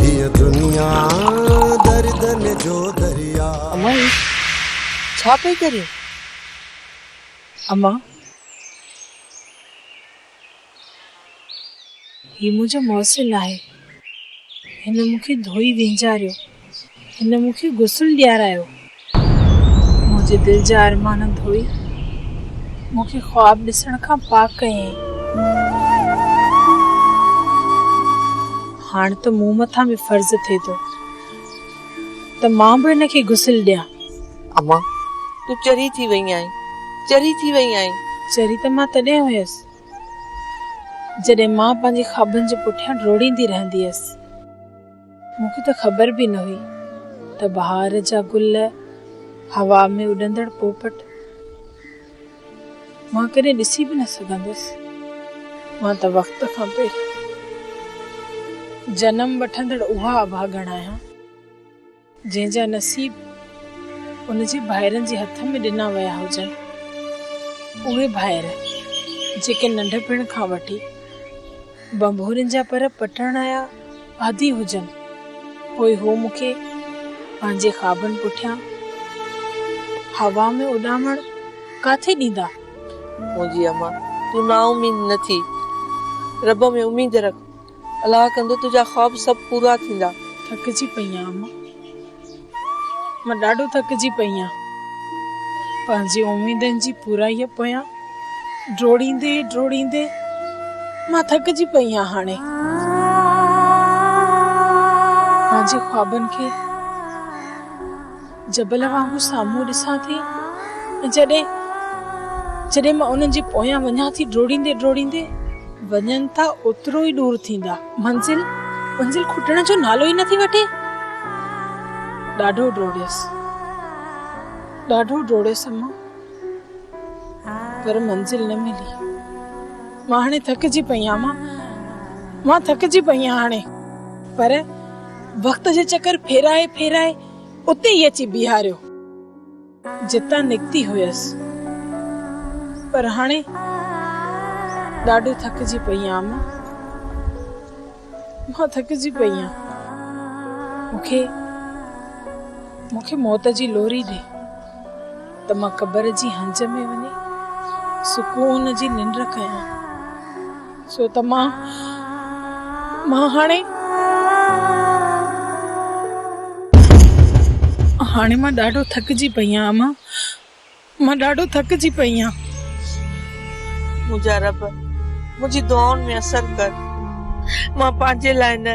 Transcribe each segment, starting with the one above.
هيء دنيا دردن جو درياء. امان هي ڇا پئي ڪرين؟ امان هي منهنجو محسن آهي هن مونکي ڌوئي وينجاريو هن مونکي غسل ڏيارايو. منهنجي دل جا ارمان ڌوئي مون کي خواب ڏسڻ کان پاڪ ڪيائين. هاڻ ته مون مٿان به فرض ٿئي ٿو ته مان به هن کي غسل ڏيان. امان! تون چري ٿي وئي آهين، چري ٿي وئي آهين. چري ته مان تڏهن هيس جڏهن مان پنهنجي خوابن جي پٺيان ڊوڙيندي رهندي هيس. مون کي ته خبر به نه هئي ته بهار جا گل، هوا ۾ اڏندڙ پوپٽ، مان ڪڏهن ڏسي به نه سگهندس. مان ته وقت کان پهريان جنم وٺندڙ اها اڀاڳڻ آهيان. جنهن جا نصيب ان جي ڀائرن جي هٿ ۾ ڏنا ويا هجن. اهي ڀائر جيڪي ننڍپڻ کان وٺي ڀنڀورين جا پر پٽڻ جا عادي هجن، پوء هو مون کي پنهنجي خوابن پٺيان هوا ۾ اڏامڻ ڪاٿي ڏيندا؟ منهنجي امان! تون نااميد نه ٿي. رب ۾ اميد رک. الله ڪندو تنهنجا خواب سڀ پورا ٿيندا. ٿڪجي پئي آهيان مان مان ڏاڍو ٿڪجي پئي آهيان پنهنجي اميدن جي پورائي پويان ڊوڙيندي ڊوڙيندي مان ٿڪجي پئي آهيان هاڻي پنهنجي خوابن کي جبل وانگر سامهون ڏسان ٿي ۽ جڏهن جڏهن مان انهن جي پويان وڃان ٿي ڊوڙيندي ڊوڙيندي وڃن ٿا اوترو ئي ڏور ٿيندا. منزل منزل کٽڻ جو نالو ئي نه ٿي وٺي. ڏاڍو ڊوڙيس ڏاڍو ڊوڙيس اما پر منزل نه ملي. مان هاڻي ٿڪجي پئي آهيان اما مان ٿڪجي پئي آهيان هاڻي پر وقت جي چڪر ڦيرائي ڦيرائي اتي ئي اچي بيهاريو جتان نڪتي هيس. پر هاڻي ڏاڍو ٿڪجي پئي آهيان اما. مان ٿڪجي پئي آهيان. مون کي موت جي لوري ڏي. ته مان قبر جي هنج ۾ وڃي سڪون جي ننڊ ڪيان سو ته مان مان هاڻي هاڻي مان ڏاڍو ٿڪجي پئي آهيان اما مان ڏاڍو ٿڪجي پئي آهيان منهنجا رب منهنجي دعائن ۾ اثر ڪر مان پنهنجي لاء نه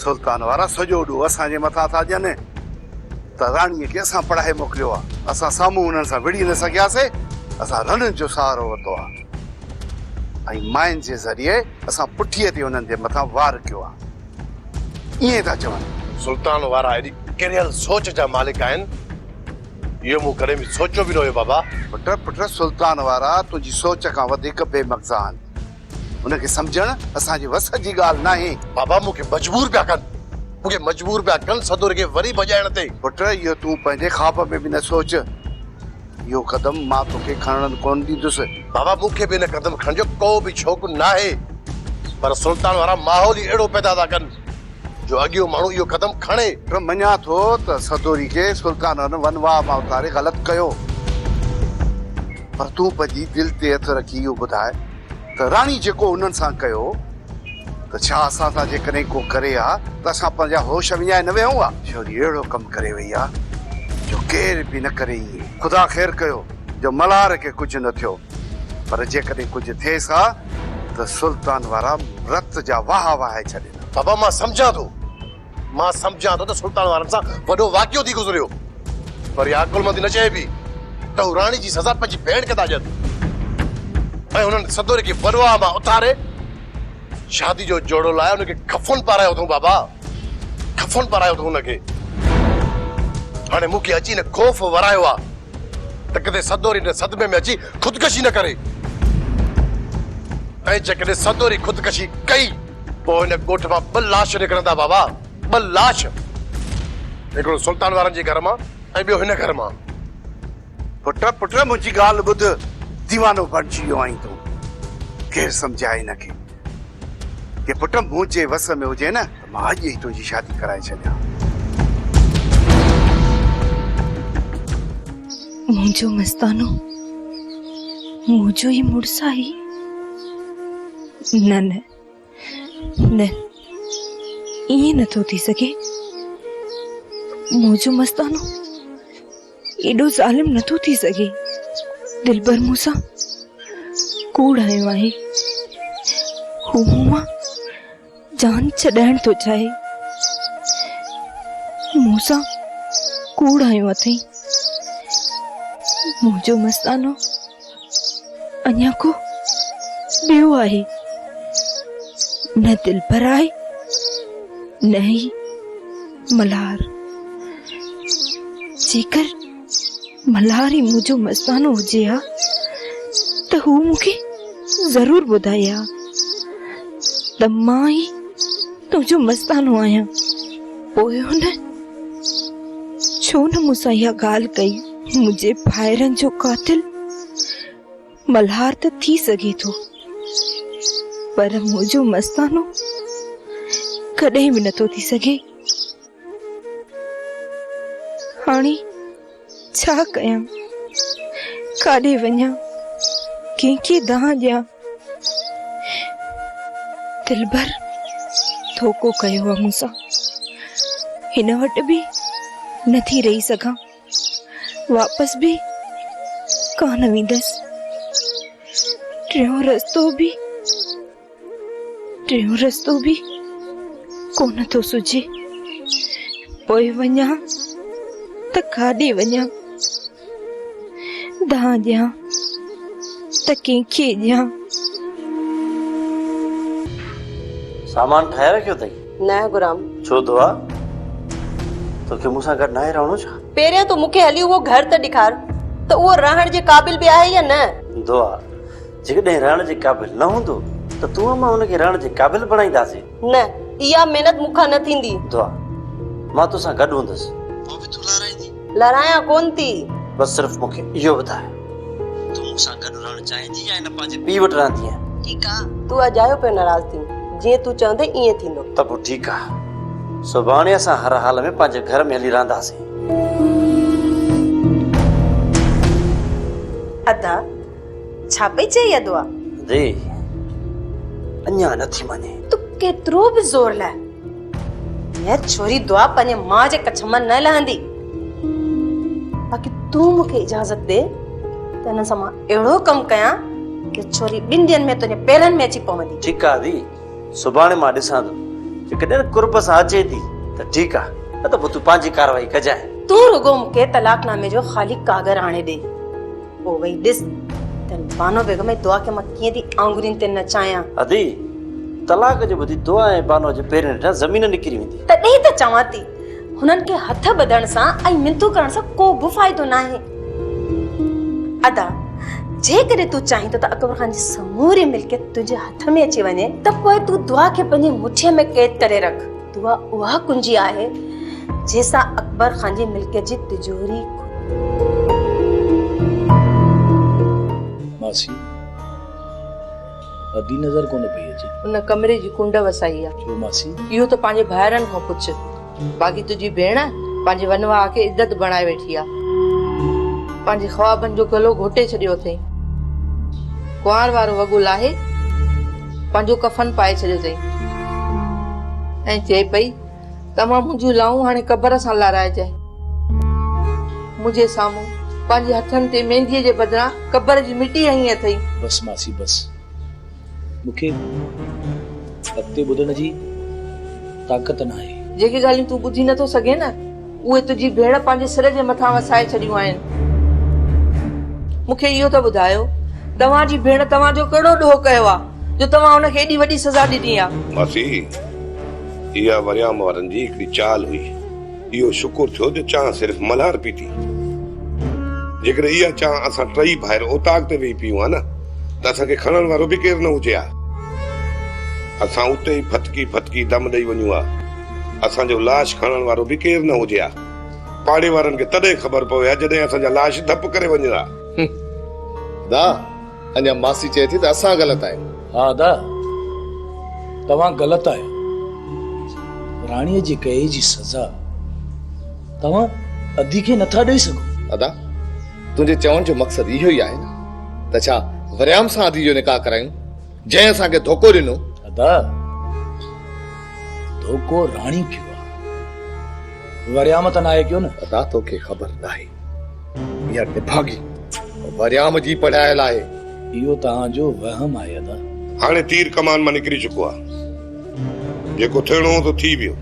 سلطان وارا سڄو ڏوهه اسان جي مٿان ٿا ڏين ته راڻيء کي اسان پڙهائي موڪليو آهي. اسان سامهون انهن سان وڙهي نه سگهياسين. اسان رڻ جو سهارو ورتو آهي ۽ مائن جي ذريعي اسان پٺيء تي انهن جي مٿان وار ڪيو آهي. ائين ٿا چون. سلطان وارا ايڏي ڪريل سوچ جا مالڪ آهن. اهو مون ڪڏهن به سوچيو به نه هيو بابا. پٽ پٽ سلطان وارا تنهنجي سوچ کان وڌيڪ بي مغزا آهن. ان کي سمجهڻ اسان جي وس جي ڳالهه ناهي. بابا مون کي مجبور پيا ڪن. مون کي مجبور پيا ڪن سدوري کي وري ڀڄائڻ تي. پٽ اهو تون پنهنجي خواب ۾ به نه سوچ. اهو قدم مان توکي کڻڻ ڪونه ڏيندس. بابا مون کي به ان قدم کڻڻ جو ڪو به شوق ناهي. پر سلطان وارا ماحول ئي اهڙو پيدا ٿا ڪن جو اڳيون ماڻهو اهو قدم کڻي. پر مڃان ٿو ته سدوري کي سلطانن ون واهه مان اتاري غلط ڪيو. پر تون پنهنجي دل تي هٿ رکي اهو ٻڌاء ته راڻي جيڪو انهن سان ڪيو ته ڇا اسان سان جيڪڏهن ڪو ڪري ها ته اسان پنهنجا هوش وڃائي نه ويهون ها؟ ڇوري اهڙو ڪم ڪري وئي آ جو ڪير به نه ڪري ائين. خدا خير ڪيو جو ملهار کي ڪجهه نه ٿيو، پر جيڪڏهن ڪجهه ٿيس ها ته سلطان وارا رت جا واهه وهائي ڇڏيندا. بابا مان سمجهان ٿو. مان سمجهان ٿو ته سلطان وارن سان وڏو واقعو ٿي گذريو پر اها عقلمندي نه چئبي ته هو راڻي جي سزا پنهنجي ڀيڻ کي ٿا ڏين ۽ هنن سدوري کي ورواهه مان اٿاري شادي جو جوڙو لاء هن کي کفن پارايو اٿئون بابا کفن پارايو اٿئون هن کي هاڻي مون کي اچي نه خوف ورايو آ ته ڪٿي سدوري نه صدمي ۾ اچي خودڪشي نه ڪري ۽ جيڪڏهن سدوري خودڪشي ڪئي پوء ان ڳوٺ مان ٻه لاش نڪرندا بابا، ٻه لاش. هڪڙو سلطان وارن جي گهر مان ۽ ٻيو هن گهر مان. پٽ پٽ منهنجي ڳالهه ٻڌ، ديوانو بڻجي ويو آهين تون. ڪير سمجهائي هن کي. جي پٽ منهنجي وس ۾ هجي نه ته مان اڄ ئي تنهنجي شادي ڪرائي ڇڏيان. منهنجو مستانو منهنجو ئي مڙس آهي. نه نه نه ائين نه ٿو ٿي سگهي منهنجو مستانو ايڏو ظالم نه ٿو ٿي سگهي دلبر مون سان ڪوڙ آيو آهي هو مون مان جان ڇڏائڻ ٿو چاهي. مون سان ڪوڙ هنيو اٿئي. منهنجو مستانو اڃا ڪو ٻيو آهي. نه دلبر آهي نه ئي ملهار. جيڪر ملهار هي مون جو مستانو هجي ها ته هو مون کي ضرور ٻڌائي ها ته مان ئي تنهنجو مستانو آهيان پوء هن ڇو نه مون سان اها ڳالهه ڪئي منهنجي ڀائرن جو قاتل ملهار ته ٿي سگهي ٿو پر منهنجو مستانو ڪڏهن به نٿو ٿي سگهي هاڻي ڇا ڪيان ڪاڏي وڃان ڪنهن کي دانهن ڏيان دلبر ڌوڪو ڪيو آ مون سان هن وٽ به نه ٿي رهي سگهان واپس به ڪانه ويندس ٽيون رستو به ٽيون رستو به ڪونه ٿو سجي پوء وڃان ته کاڏي وڃان دان ڏيان ته ڪنهن کي ڏيان سامان ٺاهي رکيو اٿئي نه غلام ڇو دعا توکي مون سان گڏ ناهي رهڻو ڇا پهريان تون مون کي هلي اهو گهر ته ڏيکار ته اهو رهڻ جي قابل به آهي يا نه دعا جيڪڏهن رهڻ جي قابل نه هوندو ته تون مان ان کي رهڻ جي قابل بڻائينداسين. نه، اها محنت مون کان نه ٿيندي. دعا، مان تو سان گڏ هوندس. پوء به تون لارائيندي؟ لارائيان ڪونه ٿي. بس صرف مون کي اهو ٻڌاء تون مون سان گڏ رهڻ چاهيندي يا هن پنهنجي پيء وٽ رهندينء؟ ٺيڪ آ، تون اجايو پيو ناراض ٿين، جيئن تون چوندين ايئن ٿيندو. ته پوء ٺيڪ آ، سڀاڻي اسان هر حال ۾ پنهنجي گهر ۾ هلي رهنداسين. ادا، ڇا پئي چئي يا دعا؟ دي اڃا نٿي مڃي. تو ڪيترو به زور لاء هيء ڇوري دعا پنهنجي ماء جي ڪڇ مان نه لهندي. باقي تون مون کي اجازت ڏي ته هن سان مان اهڙو ڪم ڪيان جو ڇوري ٻن ڏينهن ۾ تنهنجي پيرن ۾ اچي پوندي. ٺيڪ آ دي، سڀاڻي مان ڏسان ٿو، جيڪڏهن قرب سان اچي ٿي ته ٺيڪ آ، نه ته پوء تون پنهنجي ڪارروائي ڪجانء. تون رڳو مون کي طلاق نامي جو خالي ڪاڳر آڻي ڏي. پوء وئي ڏس ته بانو بيگم جي دعا کي مان ڪيئن ٿي آڱرين تي نچايان. ادي، طلاق جو ٻڌي دعا ۽ بانو جي پيرن هيٺان زمين نڪري ويندي. تڏهن ته چوان ٿي هنن کي هٿ ٻڌڻ سان ۽ منٿون ڪرڻ سان ڪو به فائدو ناهي. ادا، جيڪڏهن تون چاهين ٿو ته اڪبر خان جي سموري ملڪيت تنهنجي هٿ ۾ اچي وڃي ته پوء تون دعا کي پنهنجي مٺيء ۾ قيد ڪري رک. دعا اها ڪنجي آهي جنهن سان اڪبر خان جي ملڪيت جي تجوري ماسي ادي نظر ڪونه پئي اچي ان ڪمري جي ڪنڊ وسائي آ ڇو ماسي اهو ته پنهنجي ڀائرن کان پڇ باقي تنهنجي ڀيڻ پنهنجي ونواء کي عدت بڻائي ويٺي آ پنهنجي خوابن جو گلو گهوٽي ڇڏيو اٿئي ڪنوار وارو وڳو لاهي پنهنجو ڪفن پائي ڇڏيو اٿئي ۽ چئي پئي ته اوهان منهنجيون لائون هاڻي قبر سان لارائجي. منهنجي سامهون پنهنجي هٿن تي مينديء جي بدران قبر جي مٽي هنئي اٿئي. بس ماسي بس. مون کي اڳتي ٻڌڻ جي طاقت ناهي. جيڪي ڳالهيون تون ٻڌي نٿو سگهين نه اهي تنهنجي ڀيڻ پنهنجي سر جي مٿان وسائي ڇڏيون آهن. مون کي اهو ته ٻڌايو، توهان جي ڀيڻ توهان جو ڪهڙو ڏوهه ڪيو آهي، جو توهان هن کي ايڏي وڏي سزا ڏني آهي؟ ماسي، اها مريام وارن جي هڪڙي چال هئي. اهو شڪر ٿيو جو چانهه صرف ملهار پيتي. جيڪڏهن اها چانهه اسان ٽئي ڀائر اوطاق تي ويهي پيئون ها نه، ته اسان کي کڻڻ وارو به ڪير نه هجي ها. اسان اتي ئي ڦٿڪي ڦٿڪي دم ڏئي وڃون ها. اسان جو لاش کڻڻ وارو به ڪير نه هجي ها. پاڙي وارن کي تڏهن خبر پوي ها جڏهن اسان جا لاش ڌپ ڪري وڃن ها. ادا اڃا ماسي چئي ٿي ته اسان غلط آهيون. ها ادا توهان غلط آهيو. راڻي جي ڪئي جي سزا توهان ادي کي نه ٿا ڏئي سگهو. ادا تنهنجي چوڻ جو مقصد اهو ئي آهي نه ته ڇا وريام سان ادي جو نڪاح ڪرايون. جنهن اسان کي ڌوڪو ڏنو. ادا ڌوڪو راڻي ڪيو آ وريام ته ناهي ڪيو نه. ادا توکي خبر ناهي ميان نڀاڳي وريام جي پڙهايل آهي. اهو توهان جو وهم آهي ادا. هاڻي تير ڪمان مان نڪري چڪو آ جيڪو ٿيڻو هو سو ٿي ويو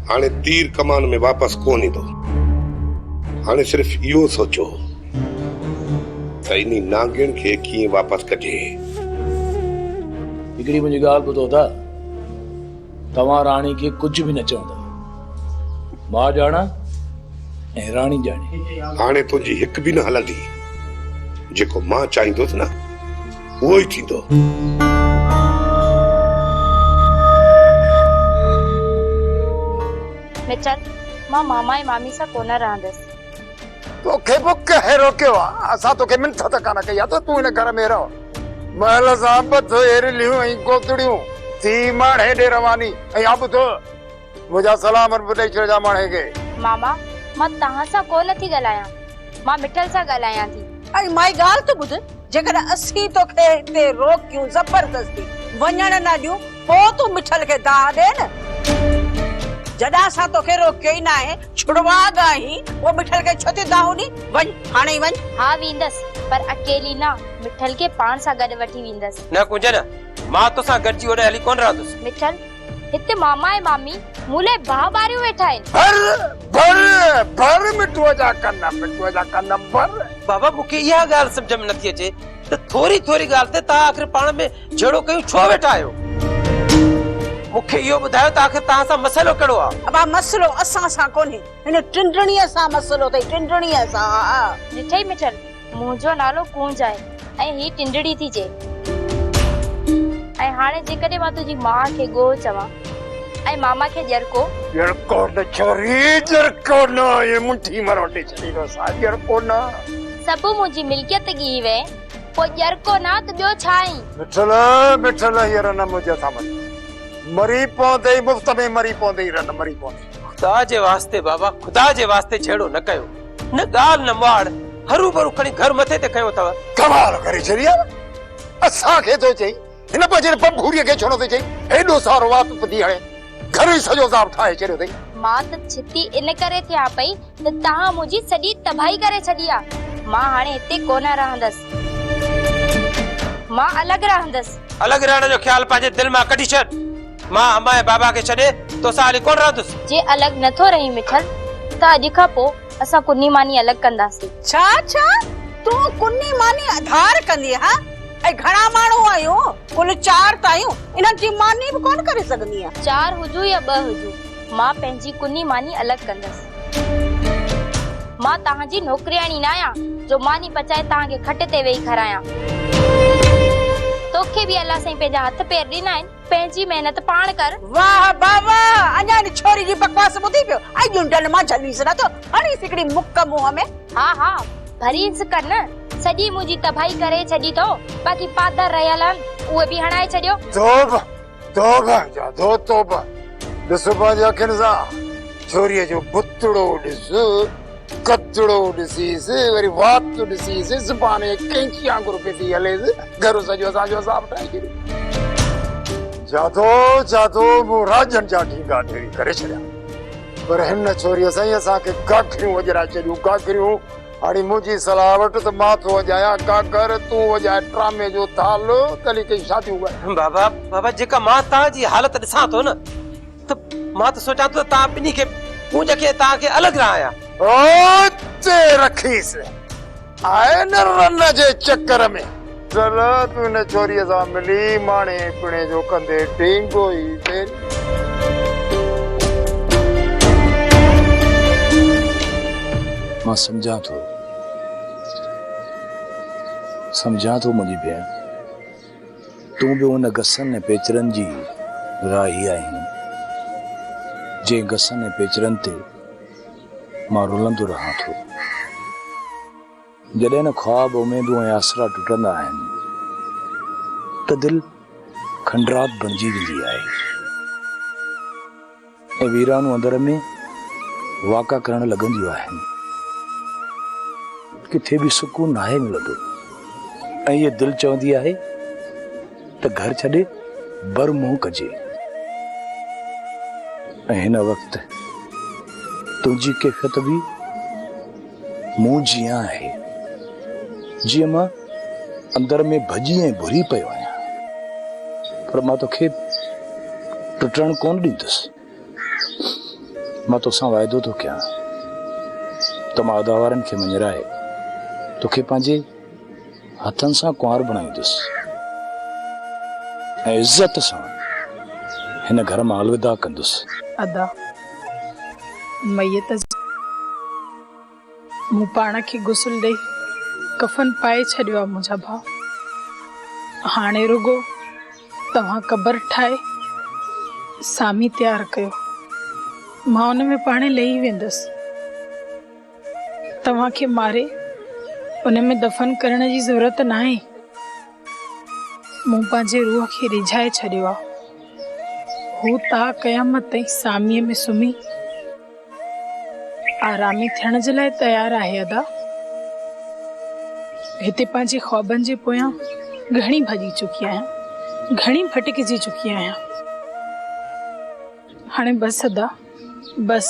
هاڻي تير ڪمان ۾ واپس ڪون ايندو هاڻي صرف اهو سوچو. ته انهي نانگين کي ڪيئن واپس ڪجي. هڪڙي منهنجي ڳالهه ٻڌو ته توهان راڻي کي ڪجهه به نه چوندا. مان ڄاڻان ۽ راڻي ڄاڻي. هاڻي تنهنجي هڪ به نه هلندي. جيڪو مان چاهيندس نه اهو ئي ٿيندو. مچل، مان ماما ۽ مامي سان ڪونه رهندس. توکي به ڪنهن روڪيو آ؟ اسان توکي منٿ ته ڪانه ڪئي آ ته تون هن گهر ۾ رهه. محل سان ٻڌ ايرليون ۽ گودڙيون ٿي ماڻهي ڏي رواني ۽ ها ٻڌ منهنجا سلام به ڏئي ڇڏجان ماڻهي کي. ماما مان توهان سان ڪو نه ٿي ڳالهايان مان مٺل سان ڳالهايان ٿي. ۽ مائي ڳالهه ته ٻڌ جيڪڏهن اسين توکي هتي روڪيون زبردستي وڃڻ نه ڏيون پوء تون مٺل کي دانهن ڏي نه. جڏهن اسان توکي روڪيو ئي ناهي. ڇڙواء ته آهين، پوء مٺل کي ڇو ٿي دانهون ڏين؟ وڃ، هاڻي ئي وڃ. ها ويندس، پر اڪيلي نه، مٺل کي پاڻ سان گڏ وٺي ويندس. نه ڪنجن، مان توسان گڏجي هوڏانهن هلي ڪونه رهندس. مٺل، هت ماما ۽ مامي مون لاء باهه ٻاريون ويٺا آهن. ڀر، ڀر، ڀر مٺوء جا ڪن، مٺوء جا ڪن ڀر. بابا مون کي اها ڳالهه سمجهه ۾ نٿي اچي ته ٿوري ٿوري ڳالهه تي توهان آخر پاڻ ۾ جهيڙو ڪيون ڇو ويٺا آهيو؟ مون کي اهو ٻڌايو ته آخر توهان سان مسئلو ڪهڙو آهي؟ ابا مسئلو اسان سان ڪونهي، هن ٽنڊڻيء سان مسئلو اٿئي، ٽنڊڻيء سان آء. ڏٺئي مٺل، منهنجو نالو ڪونج آهي ۽ هي ٽنڊڙي ٿي چئي. ۽ هاڻي جيڪڏهن مان تنهنجي ماء کي ڳوهه چوان ۽ ماما کي ڄرڪو. ڄرڪو نه ڇوري، ڄرڪو نه، ايئن منڍي مروٽي ڇڏيندوسان، ڄرڪو نه. سڀ منهنجي ملڪيت ڳيهي وئي. پوء ڄرڪو نه ته ٻيو ڇا آهين؟ مٺل، مٺل هينئر نه منهنجي هٿان مري. مري پوندي ئي مفت ۾ مري پوندي ئي رن مري پوندي. خدا جي واسطي بابا خدا جي واسطي جهيڙو نه ڪيو. نه ڳالهه نه مواڙ هروڀرو کڻي گهر مٿي تي کنيو اٿئو. ڪمال ڪري ڇڏي آ. اسان کي ٿو چئين. هن پنهنجي رپب ڀوريء کي ڇنو تي چئي، هيڏو سارو وات ٻڌي هڻي گهر ئي سڄو عذاب ٺاهي ڇڏيو اٿئي. مان ته ڇتي ان ڪري ٿيان پئي ته توهان منهنجي سڄي تباهي ڪري ڇڏي آ. مان هاڻي هتي ڪونه رهندس. مان الڳ رهندس. الڳ رهڻ جو خيال پنهنجي دل مان ڪڍي ڇڏ. مان همايان بابا کي ڇڏي توسان هلي ڪونه رهندس. جي الڳ نه ٿو رهين مٺل ته اڄ کان پوء اسان ڪني ماني الڳ ڪنداسين. ڇا ڇا؟ تون ڪني ماني اڌار ڪندينء ها؟ ۽ گهڻا ماڻهو آهيون، ڪل چار ته آهيون، انهن جي ماني به ڪونه ڪري سگهندينء. چار هجون يا ٻه هجون، مان پنهنجي ڪني ماني الڳ ڪندس. مان توهان جي نوڪرياڻي نه آهيان، جو ماني پچائي توهان کي کٽ تي ويهي کارايان. توکي به الله سائين پنهنجا هٿ پير ڏنا آهن. پنهنجي محنت پاڻ ڪر. واه با واه اڃا ان ڇوري جي بڪواس ٻڌي پيو ۽ ڄونڊن مان جهليس نه ٿو هڻيس هڪڙي مڪ منهن ۾. ها ها ڀرينس ڪن سڄي منهنجي تباهي ڪري ڇڏي ٿو باقي پادر رهيل آهن اهي به هڻائي ڇڏيو. توبه توبه جا دو توبه ڏس پنهنجي اکين سان ڇوري جو بتڙو ڏس. ڪچڙو ڏسيس وري وات ڏسيس زبان ائين ڪئنچي وانگر پئي هليس گهرو سڄو اسان جو عذاب ٺاهي ڇڏيو. جادو جادو مون راڄن جا ڍينگا ڍيري ڪري ڇڏيا پر هن ڇوريء سائين اسان کي گاگريون وڄرائي ڇڏيون گاگريون هاڻي منهنجي صلاح وٺ ته مان ٿو وڄايان گاگر تون وڄاء ٽرامي جو ٿالهو تلي ڪئين شاديون ڳايان. بابا بابا جيڪا مان توهان جي حالت ڏسان ٿو نه. ته مان ته سوچان ٿو ته توهان ٻنهي کي ڪونج کي توهان کي الڳ رهايان. اوچي رکيس آئين رن جي چڪر ۾. چل تون هن ڇوريء سان ملي ماڻي پيڻي جو ڪندي ڊينگو ئي ويري. مان سمجهان ٿو سمجهان ٿو منهنجي ڀيڻ. تون به ان گسن ۽ پيچرن جي راهي آهين، جنهن گسن ۽ پيچرن تي مان رلندو رهان ٿو. جڏهن نه خواب، اميدون ۽ آسرا ٽٽندا آهن ته دل کنڊرات بڻجي ويندي آهي. ته ويرانون اندر ۾ واڪا ڪرڻ لڳنديون آهن. ڪٿي به سڪون ناهي ملندو ۽ هيء دل چوندي آهي ته گهر ڇڏي بر منهن ڪجي ۽ هن وقت تنهنجي ڪيفيت به مون جيئان آهي، جيئن مان اندر ۾ ڀڄي ۽ ڀري پيو آهيان، پر مان توکي ٽٽڻ ڪونه ڏيندس. مان توسان واعدو ٿو ڪيان ته مان اداوارن کي مڃرائي توکي پنهنجي هٿن سان ڪنوار بڻائيندس ۽ عزت سان هن گهر مان الوداع ڪندس. ادا! ميت جي مون پاڻ کي غسل ڏئي ڪفن پائي ڇڏيو آ منهنجا ڀاء. هاڻي رڳو توهان قبر ٺاهي سامي تيار ڪيو. مان ان ۾ پاڻهي لهي ويندس. توهان کي ماري ان ۾ دفن ڪرڻ جي ضرورت ناهي. مون پنهنجي روح کي ريجهائي ڇڏيو آ. هو تا قيامت تائين ساميء ۾ سمهي آرامي ٿيڻ جي لاء تيار آهي ادا. هتي پنهنجي خوابن جي پويان گهڻي ڀڄي چڪي آهيان. گهڻي ڀٽڪجي چڪي آهيان. هاڻي بس ادا بس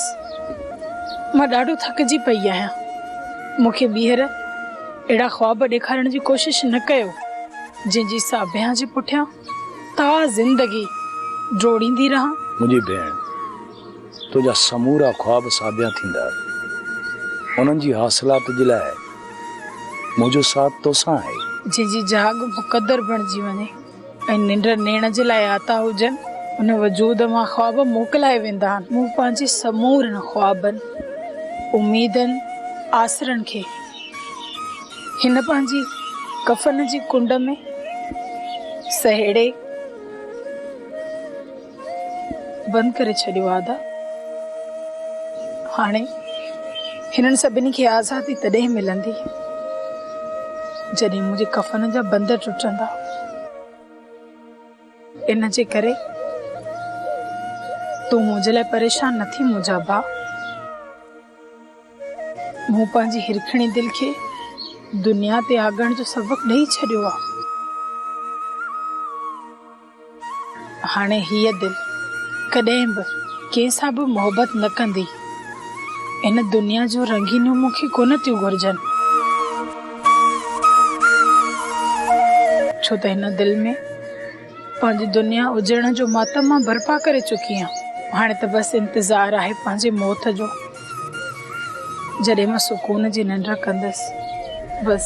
مان ڏاڍو ٿڪجي پئي آهيان مون کي ٻيهر اهڙا خواب ڏيکارڻ جي ڪوشش نه ڪيو جنهن جي ساڀيان جي پٺيان تا زندگي ڊوڙيندي رهان. منهنجي ڀيڻ تنهنجا سمورا خواب ساڀيان ٿيندا انهن جي حاصلات جي لاء منهنجو ساٿ توسان آهي. جنهن جي جهاڳ مقدر بڻجي وڃي. ۽ ننڊ نيڻ جي لاء آتا هجن، ان وجود مان خواب موڪلائي ويندا آهن. مون پنهنجي سمورن خوابن، اميدن، آسرن کي هن پنهنجي ڪفن جي ڪنڊ ۾ سهيڙي، بند ڪري ڇڏيو آ ادا هاڻي هنن سڀني کي آزادي تڏهن ملندي جڏهن منهنجي ڪفن جا بند ٽٽندا ان جي ڪري تون منهنجي لاء پريشان نه ٿي منهنجا با مون پنهنجي هرکڻي دل کي دنيا تي آڳڻ جو سبق ڏئي ڇڏيو آ هاڻي هيء دل ڪڏهن به ڪنهن سان به محبت نه ڪندي. هن دنيا جون رنگينيون مون کي ڪونه ٿيون گهرجن. ڇو ته هن دل ۾ پنهنجي دنيا اجڙڻ جو ماتم مان برپا ڪري چڪي آهيان. هاڻي ته بس انتظار آهي پنهنجي موت جو، جڏهن مان سڪون جي ننڊ ڪندس. بس.